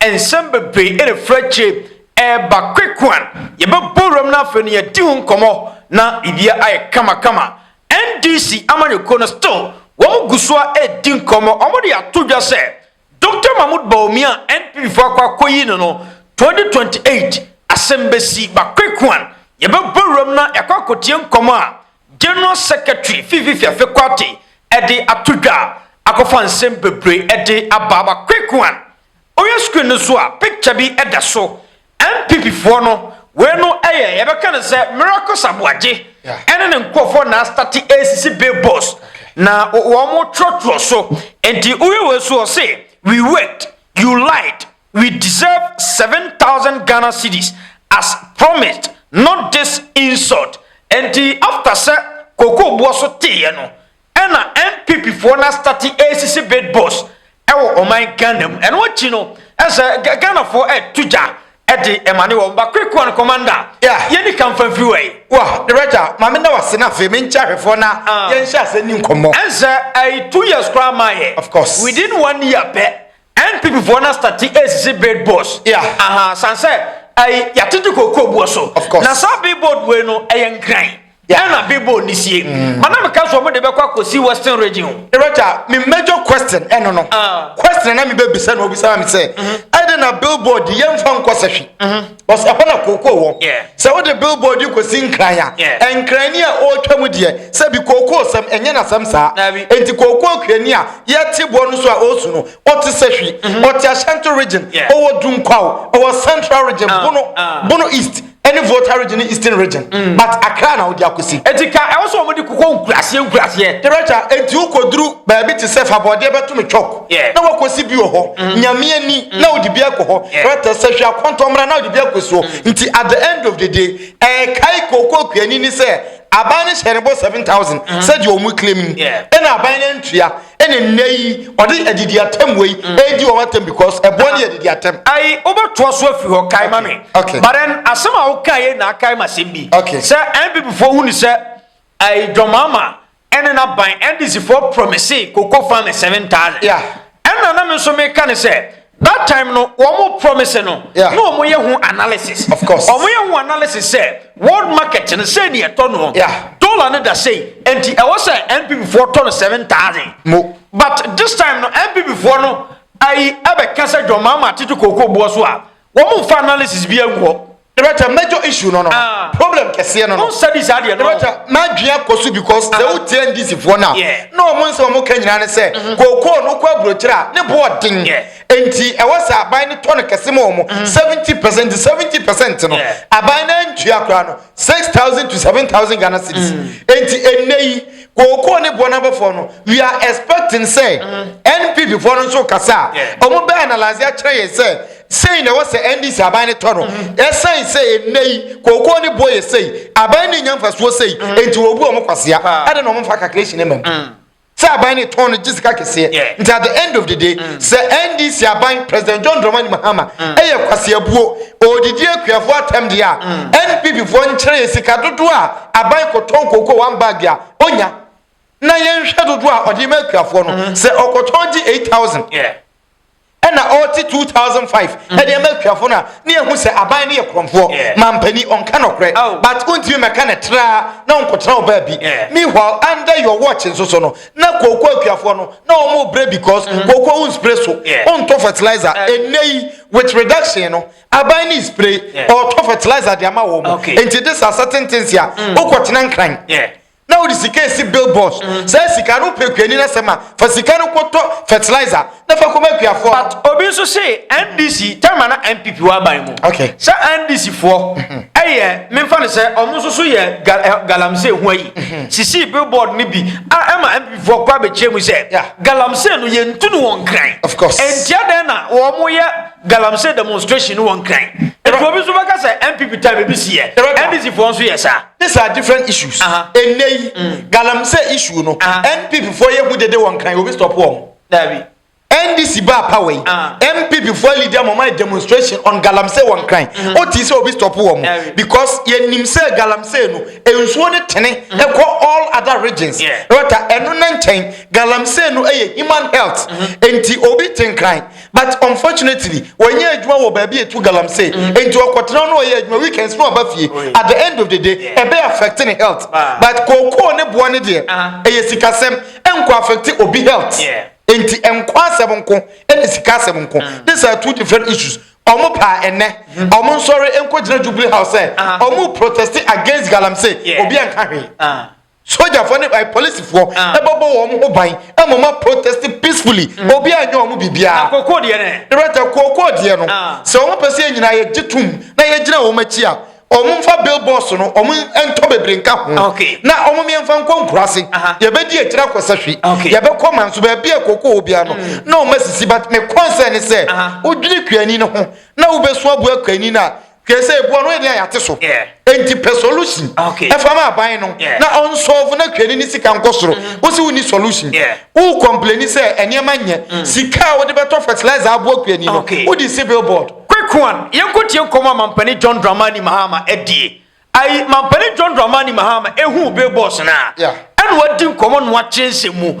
Nsɛm bebree refiri akyire reba Kwekuan, yɛbɛbɔ wuram na afei no yɛadi ho nkɔmmɔ na biribiara ayɛ kamakama. NDC amanyɔkuo no still wɔn gu so ara redi nkɔmmɔ, wɔn de ato dwa sɛ Doctor Mahmood Bawumia a NPP foɔ akɔ akɔyi no no 2028 asɛm bɛsi. But Kwekuan, yɛbɛbɔ wuram na yɛakɔ akɔtie nkɔmmɔ a General Secretary Fifi Fiafe Quartey de ato dwa a akɔfa nsɛm bebree de aba ama Kweku Ann. Wohwɛ screen no so a, picture bi da so. NPP foɔ no, wei no yɛ yɛbɛka no sɛ Miracles Aboagye ne ne nkorɔfoɔ na astate ɛresisi billboards na wɔtwerɛtwerɛ so. Nti wohwɛ wei so a, ɔse, We worked, you lied. we deserve seven thousand Ghana cedis as promised not this insult Ɛnti after sɛ Koko boɔ so teeɛ no ɛna NPP foɔ no astarte ɛresisi bid boss ɛwɔ ɔman Ghana mu ɛno akyi no ɛsɛ Ghana foɔ ɛreto gya ɛde ɛmane wɔn ba quick one commander Yeah. yɛni ka mfa mfiri wai Wɔ Director, ma me nna wo ase na afei menkyɛ ahwɛfoɔ na Ah. yɛnhyɛ ase nni nkɔmmɔ. Ɛnsɛ ɛyi two years koraa maa yɛ. Of course. Within one year pɛ NPP foɔ na stati esisi billboards yeah. aha san sɛ ɛyi yɛatete kookoo buo so na saa billboard wei no ɛyɛ nkran ɛna billboard ne sie mm. ma na meka so ɔmo de bɛkɔ akɔsi western region ɛrɛta me major question ɛno no ah. question na mebɛbisa na obisa me sɛ mm-hmm. ɛde na billboard yɛmfa nkɔ sɛhwe mm-hmm. Ɔs Ɛhɔ na kookoo wɔ. Yeah. Sɛ wode billboard yi kɔsi Nkran a, Yeah. Nkran ni a ɔretwa mu deɛ, sɛ bi kookoosɛm, ɛnyɛ n'asɛm saa. Daabi. Enti kookoo kuani a yɛte boɔ no so a ɔresu no, ɔte Sahwi, ɔte Ahyɛnto Region, Yeah. ɔwɔ Dunkwaw, ɔwɔ Central Region, Ah, Bono, ah. Bono East, ɛne Volta Region ne Eastern Region. But Accra na wode akɔsi. Enti ka ɛwɔ sɛ wɔde kokoo nkuraseɛ nkuraseɛ. Director, enti wokɔduru baabi te sɛ Fabɔdeɛ bɛto me chalk. na wakosi bi wɔ hɔ nyame ani na wode bi akɔ hɔ rɛtɛ sɛ hwɛ akɔntɔ mmra na wode bi akɔ so nti at the end of the day ɛkae kookoo kuani ni sɛ aban no hyɛ ne bɔ 7000 sɛdeɛ ɔmo claim ni ɛna aban no ntua ɛna nnɛ yi ɔde adidi atam wei ɛdi wɔn atam because ɛboɔ ne adidi atam ayi wobɛtoa so afiri hɔ kae ma me but then asɛm a wokaeɛ na akae ma asɛm bi sɛ npp foɔ hu ne sɛ dwɔmaama ɛne n'aban ndc foɔ promise cocoa farmers seven thousand yeah. ɛna na me nso meka ne sɛ that time no wɔn promise no na wɔn yɛ ho analysis of course wɔn yɛ ho analysis sɛ world market no sɛ ni ɛtɔ no dollar no da sɛ nti ɛwɔ sɛ npp foɔ tɔ no seven thousand mo but this time no npp foɔ no ayi ɛbɛka sɛ dwɔn maa ma atete kooko boɔ so a wɔn nfa analysis bi agu hɔ. Ebekyɛ major issue no no Ah. problem kɛseɛ no no. Wonsa di saa deɛ no. Ebekyɛ m'adwene akɔ so because sɛ wotie NDC foɔ no a Yeah. na wɔn nsɛm a wɔka nyinaa ne sɛ kookoo no wokɔ aburokyerɛ a ne bo ɔden. Yeah. Enti ɛwɔ sɛ aban no tɔ no kɛse ma wɔn. 70 percent 70 percent no Yeah. aban no antua koraa no 6000 to 7000 Ghana cedis. Enti ɛnnɛ yi kookoo ne boɔ no abɔfoɔ no we are expecting sɛ npp foɔ no nso kasa a ɔmo bɛyɛ analyse akyerɛ yɛn sɛ sei na ɛwɔ sɛ ndc aban no tɔ no ɛsɛn sɛ ɛnɛ yi kookoo ne boɔ yɛ sei aban no nya mfasoɔ sei nti wɔbu ɔmo kwasea ɛde na ɔmo mfa calculation ma mu sɛ aban no tɔn no gye sika kɛseɛ nti at the end of the day sɛ ndc aban president john dramani mahama ɛyɛ kwaseabuo ɔdidi akuafoɔ atɛm deɛ a npp foɔ nkyerɛ yɛ sika dodoɔ a aban kɔtɔn kooko one bag a ɔnya na yɛnhwɛ dodoɔ a ɔde ma akuafoɔ no mm-hmm. sɛ ɔkɔtɔn gye eight thousand ɛna ɔte two thousand five mm-hmm. ɛde ma akuafoɔ no a ne yɛhu sɛ aban no yɛ korɔmfoɔ mampani ɔnka nɔkorɛ oh. but wontumi mɛka ne traa na ɔnkɔtena ɔbaa bi meanwhile under your watch nso so no na kooko akuafoɔ no na ɔmo brɛ because mm-hmm. kooko wo nspire so ɔntɔ fertilizer ɛnɛ eh. yi with reduction no aban ne spray ɔtɔ fertilizer de ama wɔn nti de sa certain things a mm. wokɔ tena nkran na wode sika esi billboards mm. saa sika no pɛ kuani na sɛm a fa sika no kɔtɔ fertilizer na fa kɔma akuafoɔ but obi nso se ndc tɛma na npp wɔ aban mu okay. sɛ ndc foɔ mm-hmm. ɛyɛ memfa no sɛ ɔmo nso so yɛ eh, galamsey ho ayi mm-hmm. sisi billboard no bi a ɛma npp foɔ kɔ abɛkyerɛ mu sɛ galamsey no yɛntu no wɔn kran ɛntia dɛn na wɔn yɛ galamsey demonstration wɔ nkran nti obi nso bɛka sɛ npp time ebi si yɛ ndc foɔ nso yɛ saa. these are different issues ɛnɛ yi mm. galamsey issue no npp foɔ yɛ hu dede wɔ nkran obi stop wɔn. dabi. ndc baa power yi npp foɔ leader mɔmɔ ayɛ demonstration on galamsey wɔ nkran mm-hmm. o ti sɛ obi stop wɔn because yɛ nim sɛ galamsey no nsuo ne tene mm-hmm. ɛkɔ all other regions ɛwɔ ta ɛno ne nkyɛn galamsey no ɛyɛ human health mm-hmm. nti obi te nkran. But unfortunately, ɔnyɛ adwuma wɔ baabi a etu galamsey. Enti ɔkɔtena hɔ na ɔyɛ adwuma. Weekends na ɔba fie. At the end of the day, ɛbɛ affect ne health. But kookoo ne boɔ no deɛ, ɛyɛ sikasɛm. Ɛnkɔ affect obi health. Enti ɛnkɔ asɛm nko ɛne sika asɛm nko. These are two different issues. Wɔn paa ɛnnɛ, wɔn nsɔre nkɔgyina Jubilee House sɛ wɔn reproteste against galamsey. Obiara nka hwee. Sogyafoɔ ne eh, polisifoɔ Ah. ɛbɛbɔ wɔn ho ban ɛma wɔn protest peacefully mm. obi anyɛ wɔn biribiara. na kookoo deɛ no ɛ. rɛtɛ kookoo deɛ no Ah. sɛ wɔn pɛ sɛ yɛn nyinaa yɛgye tom na yɛgyina wɔn akyi a wɔn mfa billboards no wɔn ntɔ bebree nka ho Okay. na wɔn mmiɛnfa nkɔ nkura ase Aha. yɛbɛdi akyire akɔ sahwi Okay. Mm. yɛbɛkɔ manso baabi a kookoo wɔ biara no na wɔn asisi but me concern ne sɛ Aha. wodwiri kuani no ho na wobɛso aboa kuani no a Hwɛ sɛ ebua no ɛdeɛ a yɛate so. Enti pɛ solution ɛfa ma aban no na ɔnsɔɔfo na twani ne sika nkɔ soro. Mm-hmm. Wo se wo ni solution. Wo kɔmpleni sɛ ɛnneɛma nyɛ. Mm. Sika a wode bɛtɔ fertilizer aboa kuani no wode si billboard. Quick one, yɛnkɔtie nkɔmmɔ a Mampani John Dramani Mahama adie. Ayi, Mampani John Dramani Mahama ɛhuu billboards no a, ɛna wadi nkɔmmɔ na wakyerɛ nsɛm mu.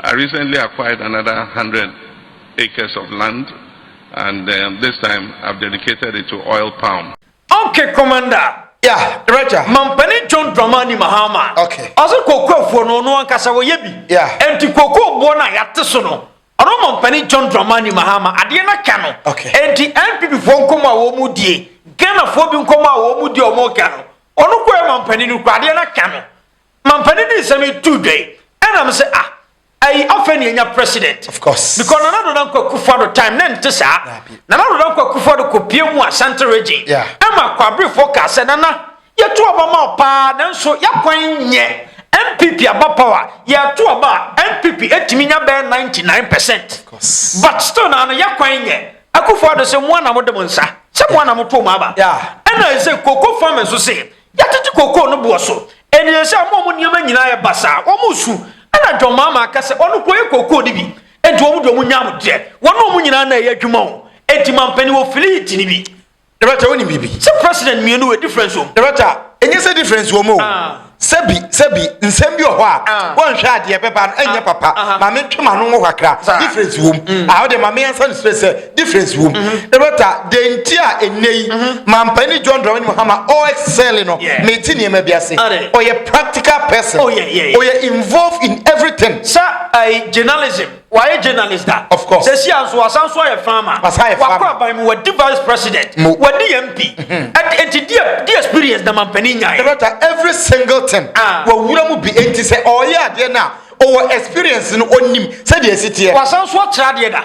I recently acquired another hundred acres of land and this time I've dedicated it to oil palm. Ok commander. Yeah, Roger. Mampanin John Dramani Mahama. Okay. Ɔsɛ kooko afuo no ɔno ankasa wɔyɛ bi. Yeah. Enti kooko boɔ no a yɛate so no ɔno Mampanin John Dramani Mahama adeɛ no aka no. Okay. Enti NPP foɔ nkɔmɔ a wɔn mu die Ghana foɔ bi nkɔmɔ a wɔn mu die wɔn ka no ɔno kɔɛ Mampanin no kura adeɛ no aka no. Mampanin de nsɛm yi too dwa yi, ɛna me sɛ ah, ayi afei na yɛnya president. Of course. Because Nana Addo Dankwa Akufo-Addo time na ɛnte saa. Dabi. Nana Addo Dankwa Akufo-Addo kɔpie mu Asante region. Yeah. Ɛma Kwabrefo kaa sɛ Nana, yɛto aba ma wo paa nanso y'akwan nyɛ. NPP aba power, yɛto aba a, NPP ɛtumi nya bɛyɛ 99 percent. Of course. But still na ano y'akwan nyɛ. Akufo-Addo sɛ moa na mode mo nsa, sɛ moa na moto mo aba. Yeah. Ɛna ɛsɛ Cocoa Farmers nso se, Yɛatete kookoo no boɔ so. Ɛnneɛ sɛ wɔn a wɔn nneɛma nyinaa yɛ basaa, wɔresu, ɛnna John Mahama ka sɛ ɔno kɔyɛ kookoo no bi. Enti wɔn deɛ wɔnya ahodwodeɛ. Wɔn ne wɔn nyinaa na ɛyɛ adwuma o. Enti mampanin wɔ fliit no bi. Director, wonim biribi? Sɛ president mmienu wɔ difference wɔ mu. Director, ɛnyɛ sɛ difference wɔ mu o. Sɛbi, sɛbi, nsɛm bi wɔ hɔ a, wɔnhwɛ a deɛ ɛbɛba no ɛnyɛ papa. Ma mentwe m'ano nwɔ hɔ kakra. Difference wɔ mu. Aha wo deɛ ma me answer no straight sɛ. difference wom ɛbɛta deɛ nti a ɛnnɛ yi mampanin John Dramani Mahama ɔɛsɛle no mete nneɛma bi ase ɔyɛ practical person ɔyɛ involved in everything sɛ ɛyɛ journalism wayɛ journalist da of course sɛsi a nso wasan so ayɛ farmer wakɔ aban mu wadi vice president wadi MP ɛti deɛ deɛ experience na mampanin nyae ɛbɛta every single thing wawura mu bi ɛnti sɛ ɔyɛ adeɛ no a ɔwɔ experience no ɔnim sɛdeɛ ɛsi teɛ wasan so atra adeɛ da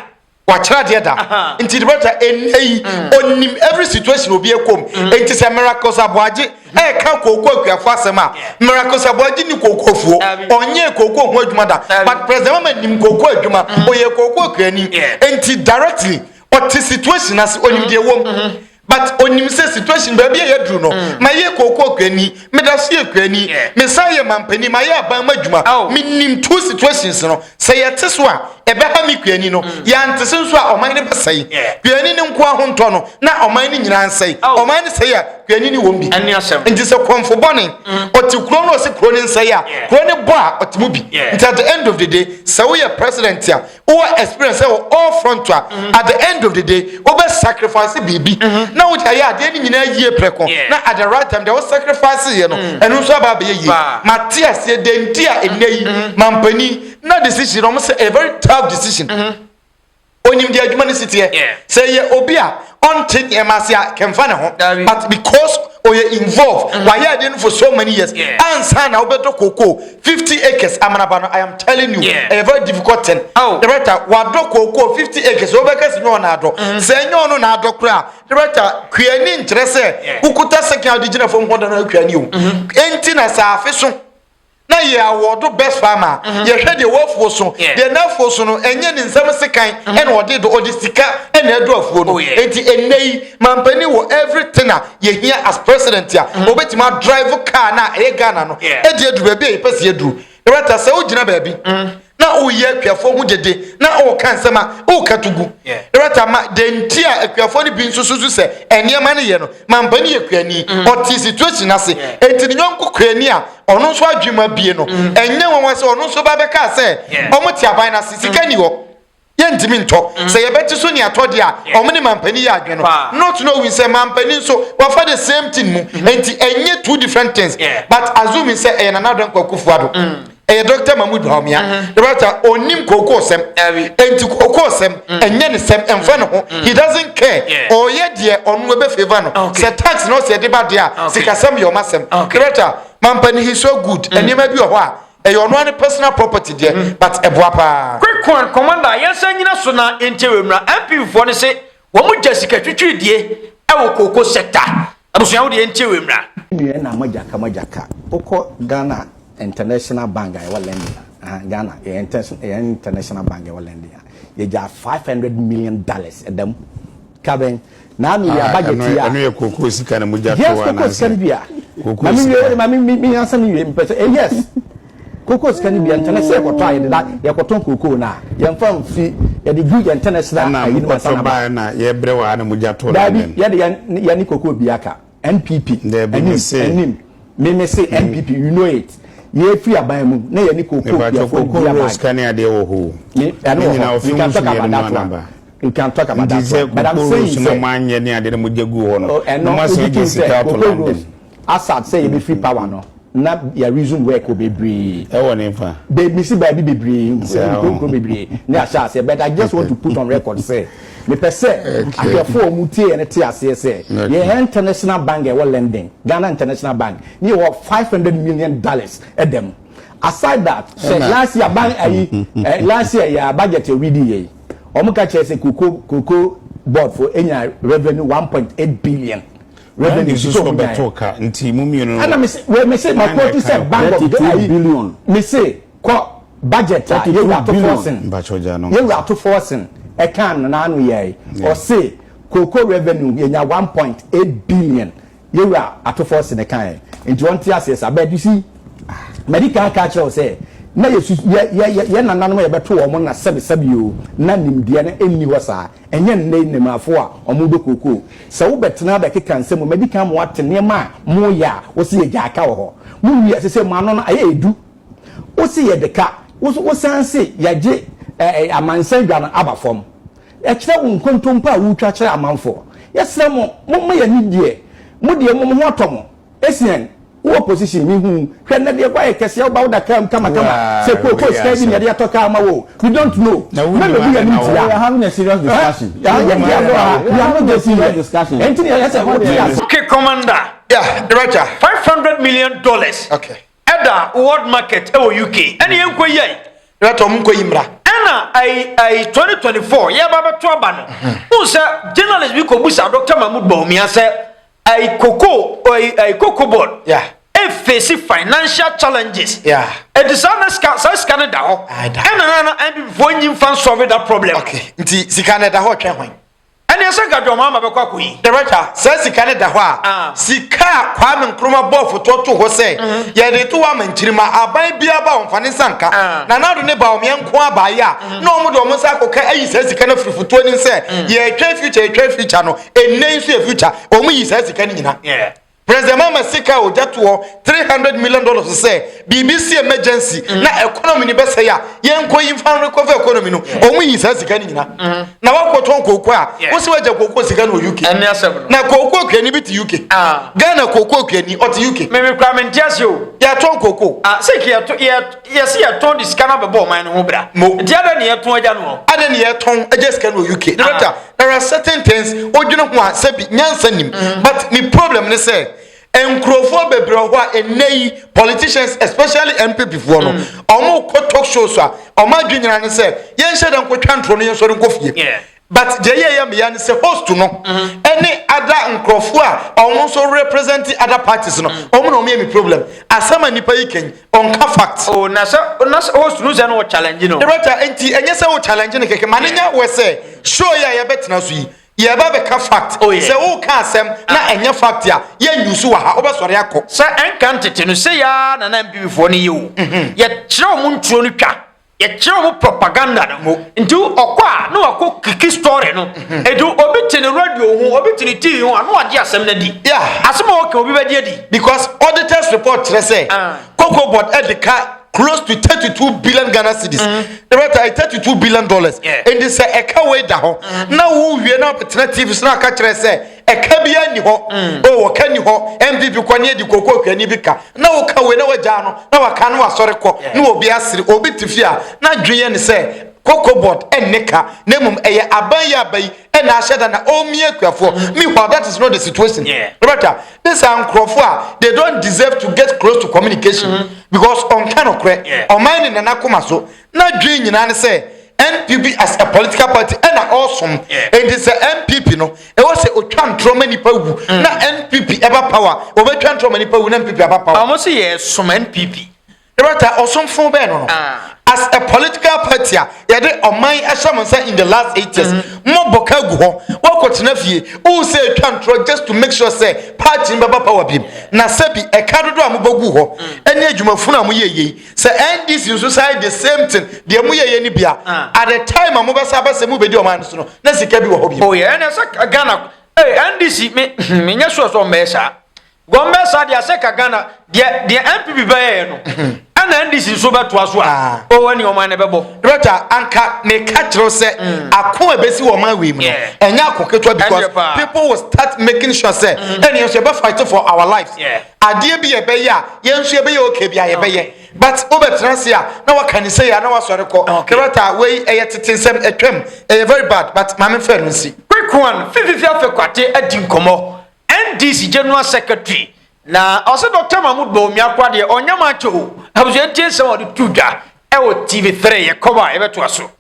wakyerɛ adeɛ da nti debɛta ɛyi ɔnim every situation obi ɛkɔm nti sɛ miracles aboagye ɛka kooko akuafoɔ asɛm a miracles aboagye ni kooko fuo ɔnyɛ kooko ho adwuma da but president mama nim kooko adwuma ɔyɛ kooko akuani nti directly ɔte situation ase ɔnim deɛ wɔm but onim sɛ situation baabi a yɛaduru no mm. mayɛ kookoo kuani meda so yɛ kuani mesan yɛ mampani mayɛ aban mu adwuma oh. menim two situations no sɛ yɛte so a ɛbɛha me kuani no mm. yɛante se nso a ɔman no bɛsɛe kuani no nko ahontɔ no na ɔman no nyinaa nsɛe oh. ɔman no sɛe a kuani no wɔm bi nti sɛ kɔmfo bɔne mm. ɔte kuro no ɔse kuro no nsɛe a kuro no bɔ a ɔte mu bi nti at the end of the day sɛ woyɛ president a Wowɔ experience ɛwɔ all front a at the end of the day wobɛ sacrifice biribi na wode ayɛ adeɛ no nyinaa yie prɛko na at the right time deɛ wo sacrifice yɛ no ɛno nso aba abɛyɛ yie. Mate aseɛ deɛ nti a nnɛ yi mampanin na decision no wɔn sɛ ɛyɛ very tough decision. Onim deɛ adwuma no si teɛ. Sɛ ɛyɛ obi a. ɔnte nneɛma ase a kɛmfa ne ho but because ɔyɛ involve mm. wayɛ ɛde no for so many years ansa na wobɛtɔ koko fifty acres amanaba no i am telling you ɛyɛ very difficult thing oh. director wadɔ koko fifty acres wobɛka si nyɛ ɔna adɔ mm. sɛ ɛnyɛ ɔno na adɔ koraa director kuani nkyerɛ sɛ wokuta sɛkɛn a wode gyina fam hɔ da no akuani o ɛnti mm-hmm. na sɛ afe so na yɛ awɔdo bɛsɔ ama yɛhwɛ deɛ w'afuo so deɛ n'afuo so no ɛnyɛ ne nsɛm sekan ɛna ɔde do ɔde sika ɛna ɛdo afuo no enti ɛnɛ yi mampanin wɔ everything a yɛhia as president a ɔbɛtumi adrive car no a ɛyɛ Ghana no ɛde aduru baabi a yɛpɛ sɛ yɛduru na wata sɛ wogyina baabi na woyɛ akuafoɔ ho gyegye na woka nsɛm a woka to gu rata ma dɛnti a akuafoɔ no bi nso susu sɛ nneɛma no yɛ no mampa no yɛ kuani mm. ɔte situation ase enti ne yɔnko kuani a ɔno nso adwuma bie no mm. ɛnyɛ nwanwa sɛ ɔno nso ba bɛkaa sɛ ɔmo te aban no ase sika ni hɔ Yɛntumi ntɔ. Mm. Sɛ yɛbɛte so ne atɔ deɛ a, ɔmo ne mampanin yɛ adwene no. Not knowing sɛ mampanin nso wafa the same thing mu. Mm-hmm. Nti ɛnyɛ two different things. But assuming sɛ ɛyɛ Nana Addo Kwaku Fuado. Mm. Ɛyɛ Dr. Mahmood Bawumia. Mm-hmm. The doctor onim kookoo sɛm. Nti kookoo sɛm mm. ɛnyɛ ne sɛm ɛnfa ne ho. Mm. He doesn't care. Ɔyɛ deɛ ɔno ɛbɛ favour no. Sɛ tax na ɔsɛ ɛde ba deɛ a sikasɛm yɛ ɔma sɛm. The doctor mampanin he so good. Nneɛma bi wɔ hɔ a Ɛyɛ ɔno ara ne personal property deɛ mm. but ɛboa paa. Quick one commander yɛnsa nyina so na yɛnkyɛ wɔ mmira MPP foɔ no se wɔn gya sika twitwiri die ɛwɔ kooko sector abusua wo deɛ yɛnkyɛ wɔ mmira. Nnuɛ na magyaka magyaka wokɔ Ghana international bank a ɛwɔ lending a Ghana yɛ international bank a ɛwɔ lending a yɛgya five hundred million dollars ɛdam Kabɛn, na me wia ba yɛ tia. Ɛno yɛ koko sika na mogya to anaasɛ? Yes, koko sika no bia. Koko sika. Ma me me me ansa me wie. Mpɛ sɛ eh yes. Koko sika no bia ntɛnɛ sɛ yɛkɔtɔ a yɛde da yɛkɔtɔn koko na yɛmfa mfi yɛde gu yɛn ntɛnɛ sra ayi no ansa na ba. Ɛna mokɔtɔ baa na yɛbrɛ wɔ ha na mogya to na mɛm. Daabi yɛde yɛne koko bia ka. NPP. Dabi me se. Anim. Me me se NPP you know it. Ni efiri aban mu na yɛ ni koko biafo. Mepa choko koko nro sika ni adeɛ wɔ hoo. Me ɛno wɔ hɔ. We can talk about that one. We can talk about that one. But I'm saying sɛ. Nti sɛ koko nro suna mo anyɛ ni adeɛ na mo gye gu hɔ no. Ɛno obi ti sɛ koko nro. Asad sɛ yɛ bɛ free power no. na ya resume work wɔ bebree. Ɛwɔ ne fa. Bɛ me si baabi bebree, nkuro nkuro bebree ne ahyɛ aseɛ but I just want to put on record sɛ me pɛ sɛ ahwɛfoɔ a wɔn tie yɛ no te aseɛ sɛ yɛ hɛn international bank a ɛwɔ London, Ghana International Bank, ne yɛ wɔ five hundred million dollars ɛda mu. Aside that, sɛ last year ban ayi eh, last year yɛ a budget yɛ reading yɛ yi, wɔn ka kyerɛ sɛ koko koko board fo enya revenue one point eight billion. Wɛdɛ ne nsusu wɔn bɛ to ka nti mu mmienu no. Ɛna mese wɛ mese ma kɔ tu sɛ bank of the ayi billion. Mese kɔ budget a yɛ wura to fɔsin. Mpatsɔ gya no. Yɛ wura to fɔsin ɛkan no n'ano yɛ yi. Ɔse koko revenue yɛ nya one point eight billion yɛ wura ato fɔsin ɛkan yɛ. Nti wɔn ti aseɛ sa bɛɛ dusi. Mɛdi kan aka akyerɛ sɛ na yɛ su yɛ yɛ yɛ nananom yɛ bɛ to wɔn na sɛbi sɛbi o na nimdeɛ no ɛnni hɔ saa. Ɛnyɛ nnɛ yi nnɛmmaafo a wɔdɔ kookoo. Sɛ wobɛtena abɛkeka nsɛm mu, madi kan ma woate nneɛma a moreyɛ a wose yɛgyaa ka wɔ hɔ. Munnue ase sɛ mo ano no ayɛ du. Wose yɛde ka. Wo nso wosan se yɛagye amansan dwa no aba fam. Kyerɛ wo nkontompo a woretwa kyerɛ amanfoɔ. Yɛsrɛ mo, momma yɛn ani deɛ. Mo deɛ mmom ho atɔ mo. Esiane Wo opposition me hu hwɛ nnɛ deɛ woayɛ kɛseɛ woba woda car mu kamakama sɛ kookoo sika bi na yɛde atɔ car ma wo we don't know na bɛbu yɛ no ntia we are having a serious discussion ha yɛ deɛ agorɔ ha we are not joking here ɛnti ne yɛyɛ sɛ wote ase. Okay commander. Yeah, Director. Five hundred million dollars. Okay. Ɛda world market ɛwɔ UK. Ɛna yɛn nkɔ yi ayi. Director, ɔmo nkɔ yi mra. Ɛna ayi ayi twenty twenty four yɛ ba bɛ to aba no. N sɛ journalist bi kɔ busa Doctor Mahmoud Bawumia sɛ. Ɛyi koko ɛyi ɛyi koko board. Yeah. efeesi financial challenges ɛti saa na sika saa sika no da hɔ ɛna na na nppfoɔ nyi nfa nsɔre da problem nti sika no da hɔ twɛn hwan ɛne ɛsɛ nka dwɔn ama bɛkɔ akɔ yi dɛbɛtwa saa sika no da hɔ a ah. sika a kwame nkrumah bɔɔ fotoɔ to hɔ sɛ mhm. yɛde to ama nkyirima aban biara ba wɔn fa ne nsa nka ah. na nado ne ba wɔn yɛn nko abaayɛ a mhm. na wɔn de wɔn nsa akɔka ayi saa sika no afiri fotoɔ nim sɛ mhm. yɛretwɛn future yɛretwɛn future no ɛnnɛ yi nso yɛ future wɔn yi saa sika no nyina yeah. president mama sika a ɔgya toɔ 300 million dollars sɛ biribi si emergency mm. na economy no bɛsɛe a yɛnkɔ yi mfa recover economy no mm. wɔn yi saa sika no nyina mm-hmm. na wakɔtɔn kooko a wosi wagya kooko sika no wɔ uk na kooko okuani bi te uk ah. ghana kooko okuani ɔte uk. mímí kura mi n tẹ́ se o. yàtọ̀ kooko. ah sèkì yàtọ̀ yàtọ̀. Yɛse yɛtɔn de sika no abɛbɔ ɔman no ho bra mo nti adɛn ne yɛtɔn agya no hɔ. Adɛn ne yɛtɔn agya sika no wɔ UK director ah. there are certain things wodwene ho a sɛbi nyansa nim mm. but me problem ne sɛ nkurɔfoɔ bebree wɔ hɔ a ɛnnɛ yi politicians especially npp foɔ no wɔn mm. kɔ talk shows a wɔn adwi nyinaa ne sɛ yɛnhyɛ dɛ nkotwa ntoro no yɛnsɔre nkɔ fie But deɛ ɛyɛ yɛ meya ne sɛ host no ɛne ada nkorɔfoɔ a ɔmo nso represent ada parties no ɔmo na ɔmo yɛ me problem asɛm a nipa yi kɛn ɔnka fact. Oh na sɛ na sɛ host no sɛ na ɔchallenge no. Director nti ɛnyɛ sɛ wo challenge no kɛkɛ ma no nya wɛ sɛ show yi a yɛbɛ tena so yi yɛ ba bɛ ka fact sɛ wo ka asɛm na ɛnyɛ fact a yɛ use wɔ ha wobɛ sɔre akɔ. Sɛ ɛnka ntete no sei aa na na mpp foɔ no yɛ o yɛ kyerɛ ɔmo nturo no twa Yɛkyerɛ wo propaganda no mu. Nti ɔkɔ a na wakɔ kiki story no. Mhm. Nti obi te ne radio ho, obi te ne TV ho a na wagye asɛm no adi. Asɛm a ɔka obi bɛgye adi. Because auditors report kyerɛ sɛ ah. Cocoa board de ka close to thirty two billion Ghana cedis. Ɛbɛta mm-hmm. thirty two billion dollars. Nti sɛ ɛka wei da hɔ mm-hmm. na wowie na abɛtena TV so na aka kyerɛ sɛ Ɛka biaa nni hɔ oh ɔka nni hɔ NPP kɔ ne adi kɔkɔ ɔhwɛni bi ka na wo ka wei na wagyaa no na waka na wasɔre kɔ ne obi asere obi te fie a na dwen yɛ ne sɛ kɔkɔ board ɛnne ka na mmom ɛyɛ aban yi aba yi ɛna ahyɛ da na ɔmmi akuafoɔ me hɔ that is not the situation Roberta this are nkurɔfoɔ a they don't deserve to get close to communication because ɔnka nokorɛ ɔman ne nana koma so N'adwene nyinaa ne sɛ NPP as a political party ɛna ɔresom. Enti sɛ NPP no, ɛwɔ sɛ ɔtwa ntorɔ ma nipa wu mm. na NPP ɛba power, ɔbɛtwa ntorɔ ma nipa wu na NPP aba power. Ɔmo sɛ yɛsom NPP. Dɔkta, ɔsomfo bɛn no no? Ah. As a political party a yɛde ɔman ahyɛ mo nsa in the last eight years, mm-hmm. mo bɔ ka gu hɔ, wɔkɔtena fie, wohu sɛ ɛtwa ntorɔ just to make sure sɛ party no bɛba power bi mu. Na sɛ bi ɛka dodo a mobɛgu hɔ, ɛne mm. adwumafunu a moyɛ yei, sɛ ndc nso san the same thing deɛ mo yɛyɛ no bia ah. at the time a mobɛsa bɛ sɛ mobɛdi ɔman no so no na sika bi wɔ hɔ bi oh yeah ɛnɛ sɛ ghana hey, ndc me menyɛ sure sɛ ɔmmɛɛ saa gɔmmɛ saa deɛ sɛ ka ghana deɛ deɛ npp bɛyɛɛ no ɛna ndc nso bɛtoa so a ɔwɔ ne ɔman no bɛbɔ rɛta anka meka kyerɛw sɛ mm. ako a ɛbɛsi wɔ ɔman wei mu no ɛnyɛ ako ketewa because people will start making sure sɛ ɛneɛ nso yɛbɛfight for our lives yeah. Adeɛ bi yɛbɛyɛ a yɛn nso yɛbɛyɛ okay bi a yɛbɛyɛ but wobɛtena ase a na waka ne sɛ yɛ a na wasɔre kɔ Okay. yɛbɛta a wei ɛyɛ tete nsɛm atwam ɛyɛ very bad but maame mfɛ no nsi Quick one, Fififi Afekwate adi nkɔmmɔ, NDC General Secretary, na ɔse Doctor Mahmood Bawumia koraa deɛ ɔnyɛ much o, abusua ntie nsɛm a ɔde to dwa wɔ TV three, yɛkɔm a yɛbɛtoa so.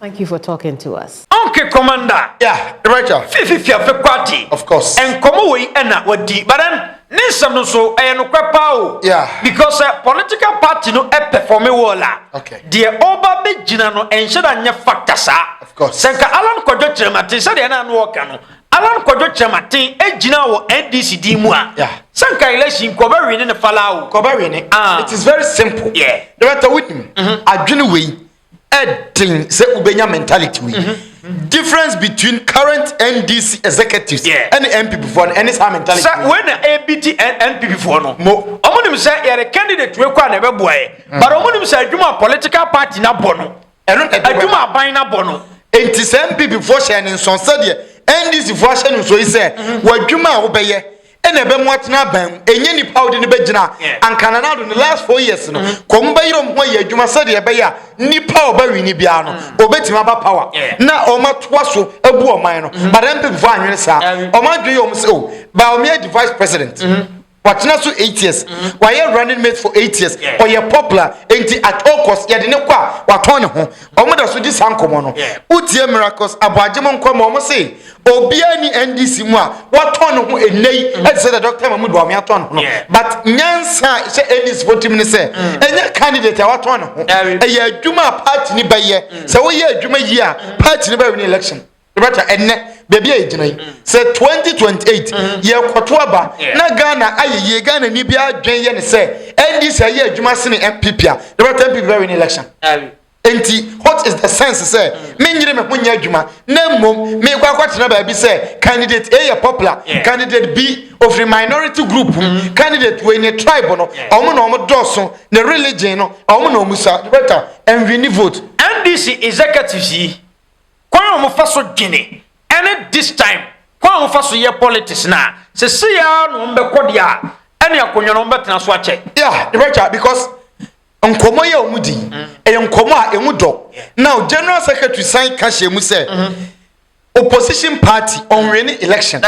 Thank you for talking to us. Okay, Commander. Yeah, Rachel. Fifi fiafe kwati. Of course. Nkɔmɔ wɔ yi ɛna wadi, but then ne nsɛm no so ɛyɛ nokorɛ paa o. Yeah. Because uh, political party no ɛpɛfɔme eh, wɔ la. Okay. Deɛ ɔba bɛ gyina no ɛnhyɛ da nyɛ factor saa. Of course. Sɛ nka Alan Kwadwo Kyerɛmaten sɛdeɛ ɛna ano ɔka no Alan Kwadwo Kyerɛmaten ɛgyina wɔ NDC din mu a. Yeah. Sɛ nka election kɔbɛ wini ne fala o. Kɔbɛ wini. Ah. It is very simple. Yeah. Dɛbɛtɛ wini mu. Adwene wei. ɛden sɛ wobɛnya mentality wei mhm. difference between current ndc executives ɛne yeah. npp foɔ no ɛne saa mentality sɛ wei na ɛbi ti npp foɔ no mo ɔmo nim sɛ yɛde candidate wei kɔ a na ɛbɛboa yɛ mhm. but ɔmo nim sɛ adwuma political party na bɔ no ɛno adwuma aban na bɔ no nti sɛ npp foɔ hyɛ ne nsɔn sɛdeɛ ndc foɔ ahyɛ ne nsɔn yi sɛ mhm. wɔadwuma a wobɛyɛ ɛna ɛbɛ mu atena aban mu ɛnyɛ nipa a ɔde no bɛgyina anka nanado ne last four years no mm. kɔm bɛyerɛ ɔm ho ayɛ adwuma sɛdeɛ ɛbɛyɛ a nipa a ɔbɛ wini biara no mm. ɔbɛtumi aba power na ɔm atoa so abu ɔman no mm-hmm. but mpp fo anwene saa ɔm adwene yɛ ɔm sɛ o oh, ba ɔm yɛ de vice president mm-hmm. watena so eight years mm-hmm. wayɛ running mate for eight years ɔyɛ popular nti at all cost yɛde ne kɔ a watɔn ne ho ɔmo da so di saa nkɔmɔ no wotie miracles aboagye mo nkɔmɔ ɔmo se Obiara ni NDC mu a watɔn ne ho ɛnɛ yi ɛte mm. sɛ dɛ Dr. Mahmoud Bawumia atɔn ne ho no but nyansa a ɛhyɛ NDC fo tirim ne sɛ mm. ɛnyɛ candidate a watɔn ne ho ɛyɛ adwuma a party ne bɛyɛ mm. sɛ woyɛ adwuma yi a party ne bɛwin election ɛbɛta ɛnɛ baabi a yɛgyina yi sɛ 2028 yɛkɔto aba na ghana ayɛ yie ghana ni bi adwen yɛ ne sɛ NDC ayɛ adwuma sene MPP a ɛbɛta MPP bɛwin election Enti, what is the sense sɛ menyere me ho nyɛ adwuma na mmom mekɔ akɔtena baabi sɛ candidate A yɛ popular, candidate B ofiri minority group mu, mm-hmm. candidate wei ne tribe no ɔmo na ɔmo dɔɔso ne religion no ɔmo na ɔmo sa bɛta ɛnwini vote. NDC executives yi kwan a wɔfa so dwene ɛne this time kwan a wɔfa so yɛ politics na sisi ya na wɔn bɛkɔ deɛ ɛne akonnwa na wɔn bɛtena so akyɛ. yeah rebɛtwa because. nkɔmmɔ yi a wɔn di mm. ɛyɛ nkɔmmɔ a ɛmu dɔ now general secretary san ka hyɛ mu sɛ mm-hmm. opposition party ɔnwene election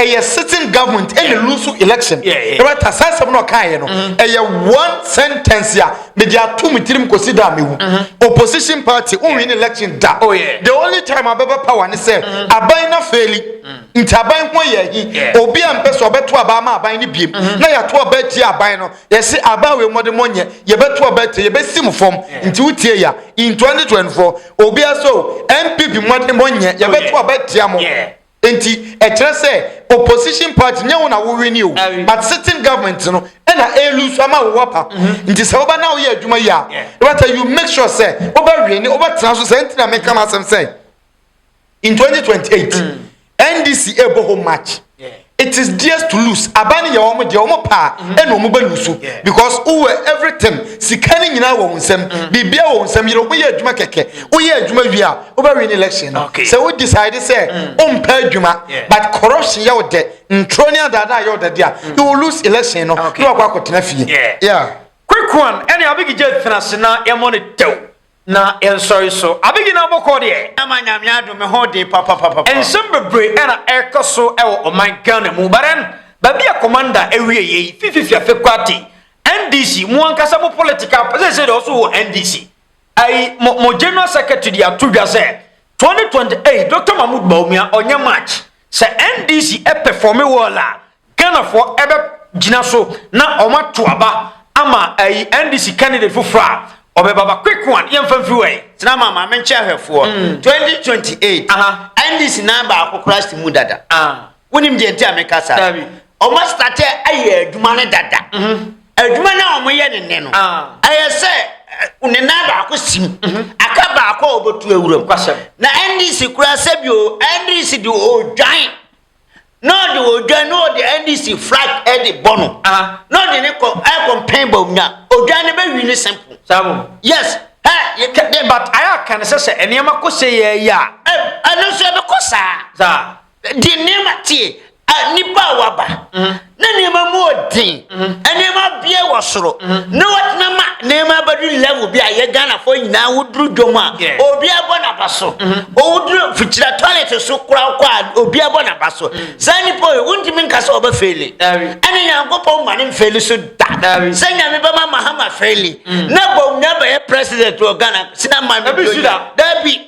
ɛyɛ sitting government ɛna lose election ɛwɛ ta saa asɛm na ɔka yɛ no mm-hmm. ɛyɛ one sentence a mede ato mu tirim kɔsi da mewu mm-hmm. opposition party ɔnwene election da oh, the only time abɛbɛ power ne sɛ aban na fɛli mm. nti aban ho yɛ hi obi a mpɛ sɛ ɔbɛto aban ma aban no biem na yɛato ɔbɛ tie aban no yɛse aba wei mɔde mɔnyɛ yɛbɛto ɔbɛte yɛbɛsi mu fam nti wotie ya in 2024 obia so npp mɔde mɔnyɛ yɛbɛto ɔbɛtea mo nti ɛkyerɛ sɛ opposition party nyɛ wo na wowini o but sitting government no ɛna ɛlu so ama wo wapa mm-hmm. nti sɛ woba na woyɛ adwuma yi a wobɛta you make sure sɛ wobɛwini wobɛtena so sɛ nti na meka masɛm sɛ in 2028 mm. ndc ɛbɔ home match yeah. it is theirs to lose aban no yɛ wɔn deɛ wɔn paa mm. ɛna wɔn bɛ lose yeah. because wowɔ everything sika no nyinaa wɔ wɔn nsam mm. biribia wɔ wɔn nsam yɛrɛ wɔn yɛ adwuma kɛkɛ woyɛ adwuma wie a wobɛ win election no okay. sɛ wo decide sɛ mm. wompɛ adwuma yeah. but corruption yɛ wo dɛ ntoro ne adaadaa yɛ wo dɛ deɛ mm. you will lose election no okay. ne wakɔ akɔtena fie yeah. yeah. quick one ɛne abigi gye tena se na yɛmɔ ne dɛw Na yɛnsɔre so abegyina abɔkɔ deɛ. Ama Nyame adom me ho den papapapa. Nsɛm bebree na ɛrekɔ so wɔ ɔman Ghana mu but then baabi a Commander awie yɛ yi fififi afe koraa te NDC mo ankasa mo political pa seesei deɛ ɔso wɔ NDC ayi mo mo General Secretary deɛ ato dwa sɛ 2028 Doctor Mahmood Bawumia ɔnyɛ match sɛ NDC perform well a Ghanafoɔ ɛbɛ gyina so na wɔn ato aba ama ɛyi NDC candidate foforɔ a ɔbɛ baba quick one yɛn fɛn firi wɛn. Tena ma maame nkyɛn ahwɛfoɔ. Mm. Twenty twenty eight. NDC nan baako koraa si mu dada. Ah. Wonim deɛ nti a meka saa. Dabi. Wɔn astate ayɛ adwuma ne dada. Mhm. Adwuma no a wɔyɛ ne nne no. Ah. Ɛyɛ sɛ ne nan baako si mu. Mhm. Aka baako a wɔbɛtu awuram. Na NDC koraa sɛbi o NDC de odwan. na ɔde odwan na ɔde NDC flag ɛde bɔ no na ɔde ne kɔ ɛkɔmpɛn bɔ nya odwan no bɛwi ne simple. Sabo. Yes. Ɛ yɛ kɛ de but ayɛ aka no sɛ sɛ nneɛma kɔ sɛ yɛ yɛ a. Ɛ ɛno nso ɛbɛkɔ saa. Saa. Deɛ nneɛma tie nipa a waba. Mm-hmm. na nneɛma mu wɔ den nneɛma bie wɔ soro na wɔtena ma nneɛma abɛdu level bi a yɛ ghanafoɔ nyinaa woduru dwom a obi abɔ n'aba so ɔwoduru fikyira toilet so kora wokɔ a obi abɔ n'aba so saa nnipa yi wontumi nka sɛ ɔbɛ feli ɛne nyankopɔn ma ne mfeli so da sɛ nyame bɛma mahama feli na bɔm na bɛyɛ president wɔ ghana sina ma no dabi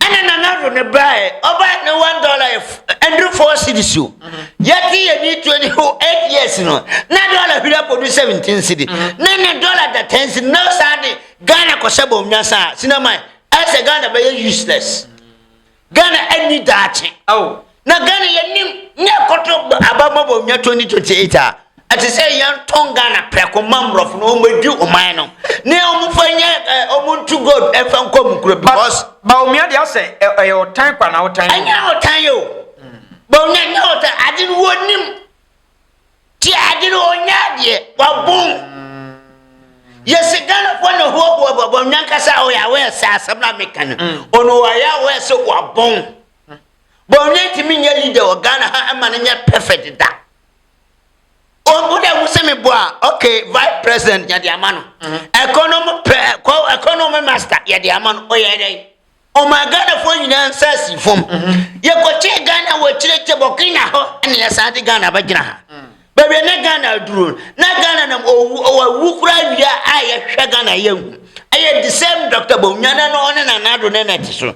Ɛna nana ro ne baɛ ɔba ne one dollar yɛ ɛnduru four cedis o yɛte yɛ ni twenty ho eight years no na dollar hwiri akɔdu seventeen cedi mm-hmm. na ne dollar da ten cedi na saa de Ghana kɔhyɛ bɔn nyasa sinama ɛsɛ Ghana bɛyɛ useless Ghana ɛni daakye. Oh. Na Ghana yɛnim ne ɛkɔtɔ aba mmɔbɔ nya 2028 a, ɛte sɛ yɛntɔn Ghana prɛko ma mmorɔfo no wɔmmɛdi ɔman no ne wɔmfa nyɛ wɔn ntu gold ɛmfa nkɔ mu kuro because. Bawumia deɛ asɛ ɛyɛ ɔtan kwa na ɔtan. Ɛnyɛ ɔtan yɛ o. Bawumia ɛnyɛ ɔtan ade no wɔnim ti ade no ɔnyɛ adeɛ wabom. Yɛsi Ghana fo na hoahoa bɔ bawumia nkasa ɔyɛ awɛ sɛ asɛm na meka no ɔno ɔyɛ awɛ sɛ wabom. Bawumia ntumi nyɛ leader wɔ Ghana ha ɛma no nyɛ perfect da. Wɔn dɛ wusi mi bu a okay vice president yɛde ama no. Ɛkɔnɔm mhm. pɛ ɛkɔ ɛkɔnɔm master yɛde ama no ɔyɛ dɛ. Ɔma Ghana fo nyinaa nsa si fam. Mhm. Yɛkɔkye Ghana wɔ akyire kye Burkina hɔ ɛna yɛsan de Ghana bɛgyina ha. Mhm. Baabi a na Ghana aduro na Ghana nam owu owu kura awia a yɛhwɛ Ghana yɛ hu. Ɛyɛ the same Dr. Bawumia na ɔne Nana Addo ne na ɛte so.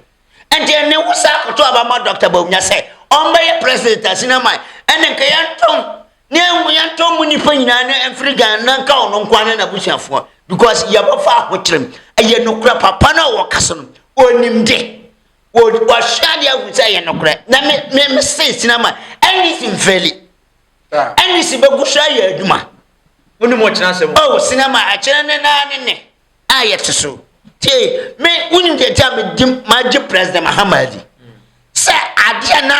Ɛnti ne wo saa koto aba ma Dɔkta Bawumia sɛ ɔmbɛyɛ president a senior man ɛne nka yɛntɔn ne ɛho yɛntɔn mu nipa nyinaa ne ɛmfiri Ghana na nka ɔno nkoa ne n'abusuafoɔ because yɛbɛfa ahokyerem ɛyɛ nokora papa no a wɔka so no ɔnim de wɔhwɛ adeɛ ahu sɛ ɛyɛ nokorɛ na me me me se senior man ɛne si mfɛli ɛne si bɛgu so ayɛ adwuma wonim ɔkyena sɛm ɔ senior man ɛkyerɛ ne naa ne ne a yɛte so tie me wonim deɛ nti a medi magye president mahama adi sɛ adeɛ na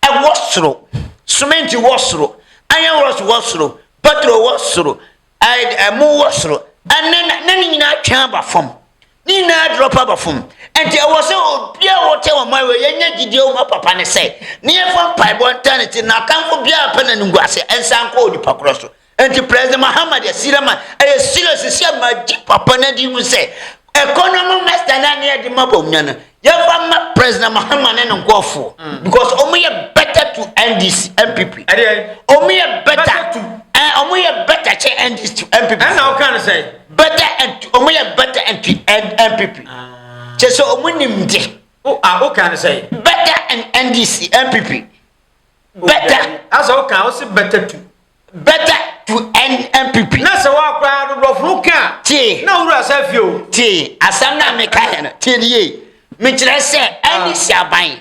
ɛwɔ soro sementi wɔ soro iron rods wɔ soro petrol wɔ soro ɛmo wɔ soro ɛne na ne nyinaa twɛn aba fam ne nyinaa drop aba fam nti ɛwɔ sɛ obi a wɔte ɔman wɔ yɛnyɛ gyidie ɔma papa ne sɛ ne yɛfa mpaebɔ nta ne ti na atamfo biara pɛ na ne ngu ase ɛnsa nkɔ onipa korɔ so Enti President Mahama de asira ma ɛyɛ serious sisi a magye papa no adi mu sɛ economy master na ne ɛde ma bɔmnya no yɛmfa ma President Mahama ne ne nkurɔfoɔ mm. because wɔn yɛ better to NDC NPP wɔn yɛ better to wɔn eh, yɛ better kyɛ NDC to NPP ɛna ɔka no sɛ better and wɔn yɛ better and to NPP ah. kyɛ sɛ wɔn nim de o a o ka no sɛ better and NDC NPP better asa o ka o si better to. Better to end NPP. Na sɛ wɔn akora adodoɔfo no ka. Tie. Na wura sɛ fie o. Tie asɛm na meka yɛ no tie ne yie. Mekyerɛ sɛ ɛne si aban.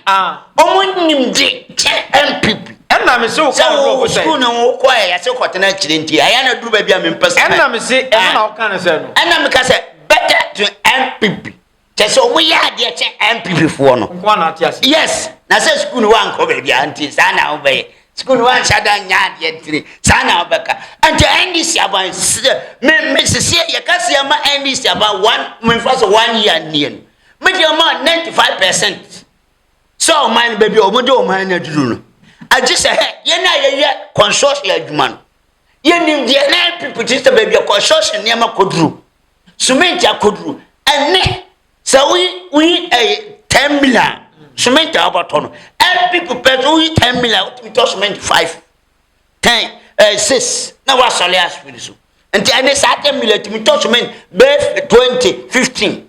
Wɔn nim de kyɛ NPP. Ɛna me se wo kan adodoɔfo sɛ. Sɛ sukuu na wɔn kɔ yɛ yɛse kɔtena akyire nti ɛyɛ na duru baabi a mempɛ sɛ. Ɛna me se ɛno na wɔka no sɛ no. Ɛna meka sɛ better to NPP. kyɛ sɛ wɔn yɛ adeɛ kyɛ npp foɔ no nko na ate ase yes na sɛ sukuu no wa nkɔ baabi a nti saa na wɔn bɛyɛ sukuu no wa nhyɛ da nya adeɛ ntiri saa na wɔn bɛka nti ndc aban sɛ me me sisi yɛ kasi ama ndc aban one me nfa so one year nie no me deɛ ma ninety five percent sɛ ɔman no baabi a wɔn de ɔman no aduru no agye sɛ hɛ yɛn a yɛyɛ consortium adwuma no yɛn nim deɛ na npp ti sɛ baabi a consortium nneɛma kɔduru. sumenti akoduru ɛnɛ sɛ woyi woyi ɛyɛ ten million sumenti a wɔbɛtɔ no ɛbi pupɛ so woyi ten million wotumi tɔ sumenti five ten ɛɛ six na wasɔre asopiri so nti ɛne saa ten million tumi tɔ sumenti bɛɛ twenty fifteen.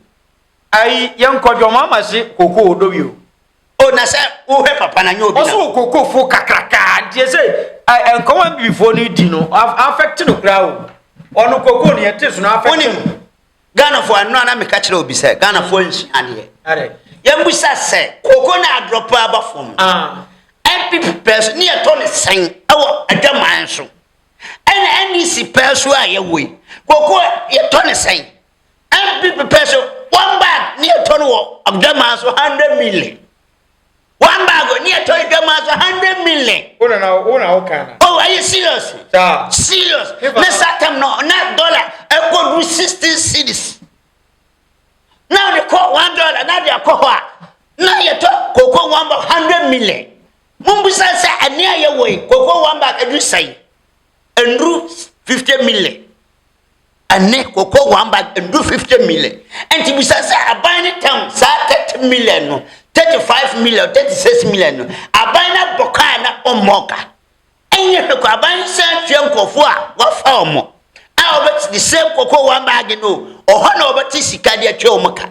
ayi yɛn kɔdwɔn mama se koko odowi o o na sɛ wohwɛ papa na nyɛ obi na. ɔso wɔ kokofo kakrakaa ntiɛ sɛ nkɔmɔ bibifoɔ no di no afɛkte no koraa o ɔno koko no yɛte so no afɛkte no ghanafoɔ ano ana meka kyerɛ obi sɛ ghanafoɔ nhyia adeɛ yɛmbusa sɛ koko na adrɔpa aba fam npp pɛɛ so ne yɛtɔ ne sɛn ɛwɔ adwaman so ɛna ndc pɛɛ so a yɛwɔ yi koko yɛtɔ ne sɛn MP pepɛ so one bag ne yɛtɔ no wɔ adwamaa so hundred million one bag ne yɛtɔ adwamaa so hundred million. o na na o na o kan na. o ayi serious. saa serious ne saa tam no na dollar ɛkɔ du sixteen cities na ɔde kɔ one dollar na de akɔ hɔ a na yɛtɔ koko one bag hundred million mo bisa sɛ ɛnea yɛwɔ yi koko one bag ɛdu sɛn ɛnuru fifty million. Ɛnnɛ, cocoa one bag ndu fifty million. Ɛnti bisa sɛ aban no tam saa thirty million no, thirty five million, thirty six million no, aban no abɔ ka a na ɔmmɔɔ ka? Ɛnyɛ hwɛ kɔ aban no san tua nkurɔfoɔ a wɔafa wɔn a wɔbɛte the same cocoa one bag no o, ɔhɔ na wɔbɛte sika de atua wɔn ka.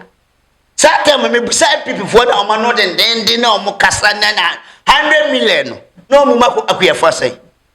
Saa tam mebisa NPP foɔ na wɔn ano dendeenden na wɔn kasa na na hundred million no na wɔn mu akuyɛfoɔ sɛn?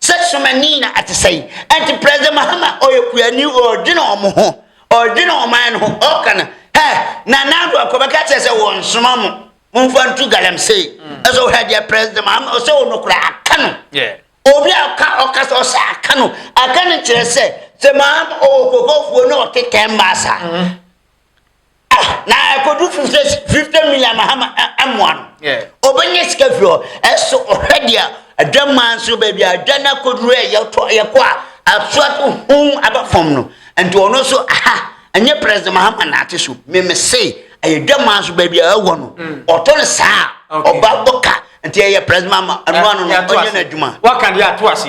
Sɛ somani na ɛte sɛn? Ɛnti President Mahama ɔyɛ kuani ɔredwene wɔn ho, ɔredwene ɔman no ho, ɔka no, hɛ, Nana Addo akɔ bɛka kyerɛ sɛ wɔnsoma mo, momfa ntu galamsey. Ɛsɛ ɔhɛ deɛ President Mahama ɔsɛ wɔ no koraa aka no. Obi a ɔka ɔka sɛ ɔsɛ aka no, aka no kyerɛ sɛ sɛ Mahama ɔwɔ kɔkɔfuo na ɔte tɛn baa saa. na ɛkɔdu fifty fifty million na hama ɛmoa no ɔbɛnya sika firi hɔ ɛso ɔhwɛ deɛ adwamaa nso baabi a adwa no akɔduru a yɛtɔ yɛkɔ a asoa to hom aba fam no nti ɔno nso aha ɛnyɛ president mahama na ate so meme se ɛyɛ dwamaa nso baabi a ɛwɔ no mm. ɔtɔ no saa ɔba bɔka nti ɛyɛ president mahama ɛnoa no no ɔnyɛ no adwuma waka deɛ ato ase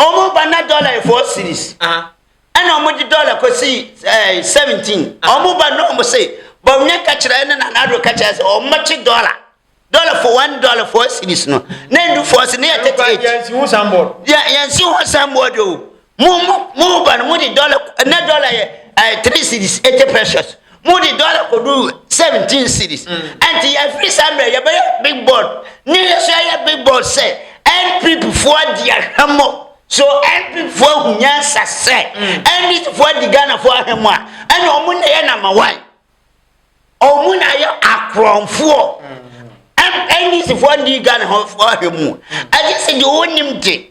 Wɔn ba na dɔla four series ɛna wɔn de dɔla kɔsi ɛɛ eh, seventeen wɔn ba na wɔn se bɔnyɛ kakyira ɛna na n'ado kakyira sɛ wɔn bɛkye dɔla dɔla for one dɔla four series no na edu four series ne yɛ thirty eight yɛn si ho sanbɔd yɛn si ho sanbɔd o mu mu mu ba no mu de dɔla na dɔla yɛ ɛɛ eh, three series eighty precious. Mode dɔla kɔduru seventeen cedis. Ɛnti yɛfiri saa mmerɛ yɛbɛyɛ big board ne yɛso yɛyɛ big board sɛ NPP foɔ di ahwɛmɔ so NPP foɔ ahu nyansa sɛ NDC foɔ adi Ghana foɔ ahwɛmɔ a ɛna ɔmo na ɛyɛ number one ɔmo na ayɛ akorɔmfoɔ NDC foɔ ndi Ghana foɔ ahwɛmu ɛgye sɛ deɛ ɔnim de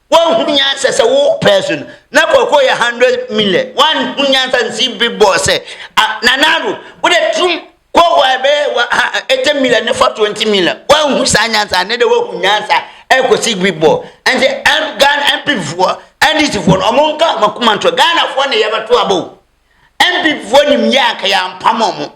Wanhunu nyansa sɛ wo pɛɛ so no na kɔkɔɔ yɛ hundred million wanhunu nyansa nsi bi bɔɔ sɛ ah, nana ado wode tum kɔkɔɔ a ɛbɛyɛ wa ha eighty million ne fa twenty million wanhunu saa nyansa ne de wahu nyansa ɛkɔsi bi bɔɔ ɛnti ɛm Ghana MP foɔ NDC foɔ no ɔmo nka ɔmo akoma nto Ghana foɔ ne yɛbɛto aba o MP foɔ nim yɛ anka yɛampam ɔmo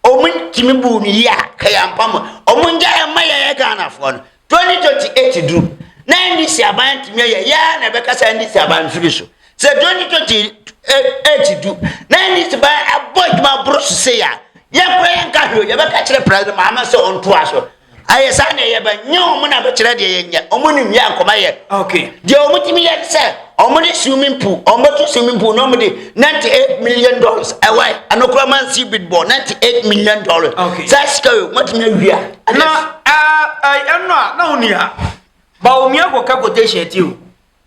Ɔmo ntumi buu no yie a ka yɛn ampa mo ɔmo ngya yɛn mma yɛyɛ Ghanafoɔ no 2028 duru na NDC aban antumi ayɛ yɛa na ɛbɛkasa NDC aban mfiri so sɛ 2028 du na NDC ban abɔ adwuma boro so sei a yɛn kora yɛnka hwee yɛbɛka kyerɛ president maame sɛ ɔntoa so Ayɛ saa na ɛyɛ bɛn? Nyɛ wɔn na bɛkyerɛ deɛ yɛnyɛ. Wɔn nim yɛn nkɔma yɛ. Okay. Deɛ wɔn tumi yɛ sɛ, wɔn de swimming pool, wɔn bɛtu swimming pool na wɔn de ninety eight million dollars ɛwɔ yɛ. Ɛno kura man si bid bɔ ninety eight million dollars. Okay. Saa sika yi wɔn tumi awia. Na ɛɛ ɛno a na wɔn ni ha. Ba wɔn yɛ kɔ ka quotation ti o.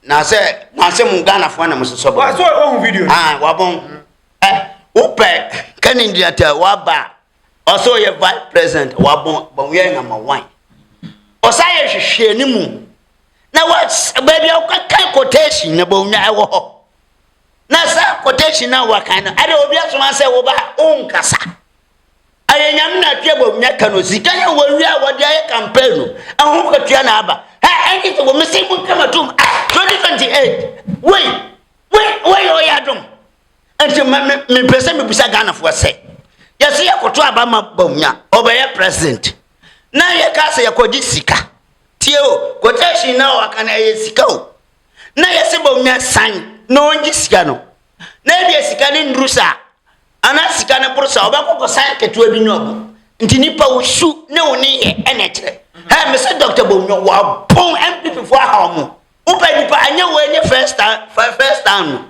Na sɛ na sɛ mo Ghana fo na mo sosɔ bɔ. Wa so ohun video. Ah wabɔn. Ɛ wopɛ kɛnɛ ndi ata waba. ɔsɛ ɔyɛ vice president wabɔ bɔnwia nama wan ɔsan yɛ hwehwɛ ne mu na wa baabi a wɔkaka quotation na bɔnwia ɛwɔ hɔ na saa quotation na wakan no ɛde obi asoma sɛ wɔba ɔnkasa ɛyɛ nyame na atwe bɔnwia ka no sika yɛ wɔwia a wɔde ayɛ campaign no ɛho katua na aba ɛ ɛne sɛ wɔmɛsɛ mu nkama tom 2028 wei wei wei ɔyɛ adom Nti ma me me pɛ sɛ mebisa Ghanafoɔ sɛ yɛsɛ yɛkoto aba ma Bawumia ɔbɛyɛ president na yɛka sɛ yɛkɔgye sika tie o quotation na ɔka no ɛyɛ sika o na yɛsɛ Bawumia san na ɔngye sika no na ebia sika no nduru saa ana sika no boro saa ɔbɛkɔ kɔsan ketewa bi nyɛ ɔbo nti nipa wo su ne wo ne yɛ ɛna ɛkyerɛ hɛ mesɛ Dr. Bawumia wɔabɔn MPP foɔ aha ɔmo wopɛ nipa anyɛ wɔ ɛnyɛ first time first time no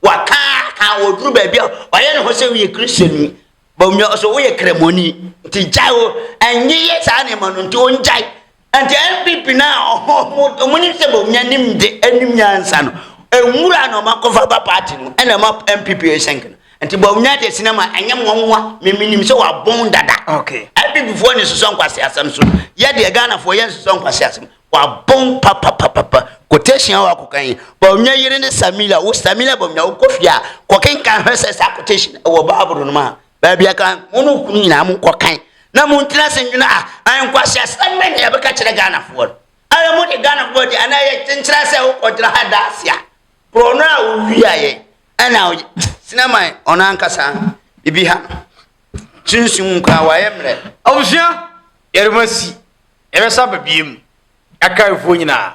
wakaaka ɔduru baabi a ɔyɛ ne ho sɛ woyɛ kristoni bɔmmia ɔsɛ woyɛ kramoni nti gyae o ɛnye yɛ saa nneɛma no nti ɔngyae nti npp no a ɔmo ne sɛ bɔmmia nim de anim nyansa no nwura na ɔma kɔfa ba party no ɛna ɛma npp ɛsɛnk no nti bɔmmia de sinema ɛnyɛ nwanwa memenim sɛ wabɔn dada npp foɔ ne sosɔ nkwase asɛm so yɛdeɛ ghanafoɔ yɛ nsosɔ nkwase asɛm wabon papapapapa quotation a wakɔkan yi bɔnwɛ yere ne samila wo samila bɔnwɛ wokɔ fie a kɔkenkan hwɛ sɛ saa quotation ɛwɔ bible no mu a baabi a kan mo no kunu nyinaa mo kɔkan na mo ntena se nwene a ankwasi asɛm bɛ ne ɛbɛka kyerɛ ghanafoɔ no ara mo de ghanafoɔ de anaa yɛ kyenkyerɛ sɛ wokɔgyina ha da ase a borɔ no a wowiaeɛ ɛna sinama ɔno ankasa bibi ha Sunsum mu koraa wɔayɛ mmerɛ. Abusua, yɛrema si, yɛbɛsa aba biem, yɛaka ayeforɔ nyinaa.